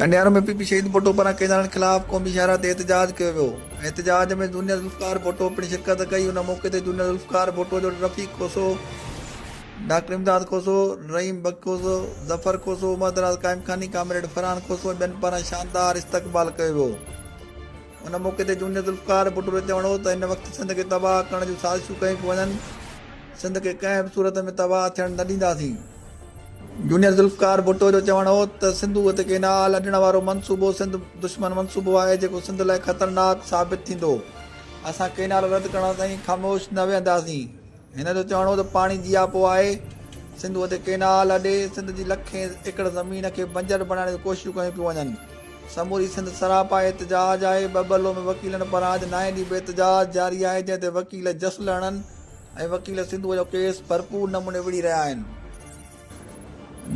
Kandiaro ۾ P P Shaheed Bhutto پاران قيداڻن خلاف قومي شاهراهه تي احتجاج ڪيو ويو احتجاج ۾ جونيئر ذوالفقار ڀٽو پڻ شرڪت ڪئي ان موقعي تي جونيئر ذوالفقار ڀٽو جو رفيق کوسو ڊاڪٽر امداد کوسو رحيم بخش کوسو ظفر کوسو عمردراز قائمخاني ڪامريڊ فرحان کوسو ۽ ٻين پاران شاندار استقبال ڪيو ويو ان موقعي تي جونيئر ذوالفقار ڀٽو جو چوڻ هو ته هن وقت سنڌ کي تباهه ڪرڻ جون سازشون ڪيون پيون وڃن سنڌ کي ڪنهن به صورت ۾ تباهه ٿيڻ نه ڏينداسين جونيئر ذوالفقار ڀٽو جو چوڻ هو ته سنڌوء تي ڪينال اڏڻ وارو منصوبو سنڌ دشمن منصوبو آهي جيڪو سنڌ لاء خطرناڪ ثابت ٿيندو، اسان ڪينال رد ڪرڻ تائين خاموش نه ويهنداسين، هن جو چوڻ هو ته پاڻي جياپو آهي، سنڌوء تي ڪينال اڏي سنڌ جي لکين ايڪڙ زمين کي بنجر بڻائڻ جون ڪوششون ڪيون پيون وڃن، سموري سنڌ سراپا احتجاج آهي، ٻٻلو ۾ وڪيلن پاران اڄ نائين ڏينهن به احتجاج جاري آهي جنهن تي وڪيل جسل هڻن، ۽ وڪيل سنڌوء جو ڪيس ڀرپور نموني وڙهي رهيا آهن.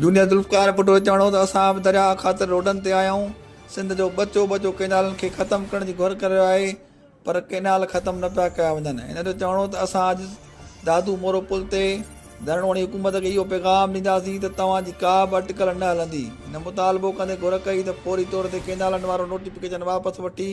جونيئر ذوالفقار ڀٽو جو چوڻ هو ته اسان به درياهه خاطر روڊن تي آيا آهيون، سنڌ جو ٻچو ٻچو ڪئنالن کي ختم ڪرڻ جي گهر ڪري رهيو آهي پر ڪئنال ختم نه پيا ڪيا وڃن، هن جو چوڻ هو ته اسان اڄ دادو مورو پل تي ڌرڻو هڻي حڪومت کي اهو پيغام ڏينداسين ته توهان جي ڪا به اٽڪل نه هلندي، هن مطالبو ڪندي گهر ڪئي ته فوري طور تي ڪئنالن وارو نوٽيفڪيشن واپس وٺي.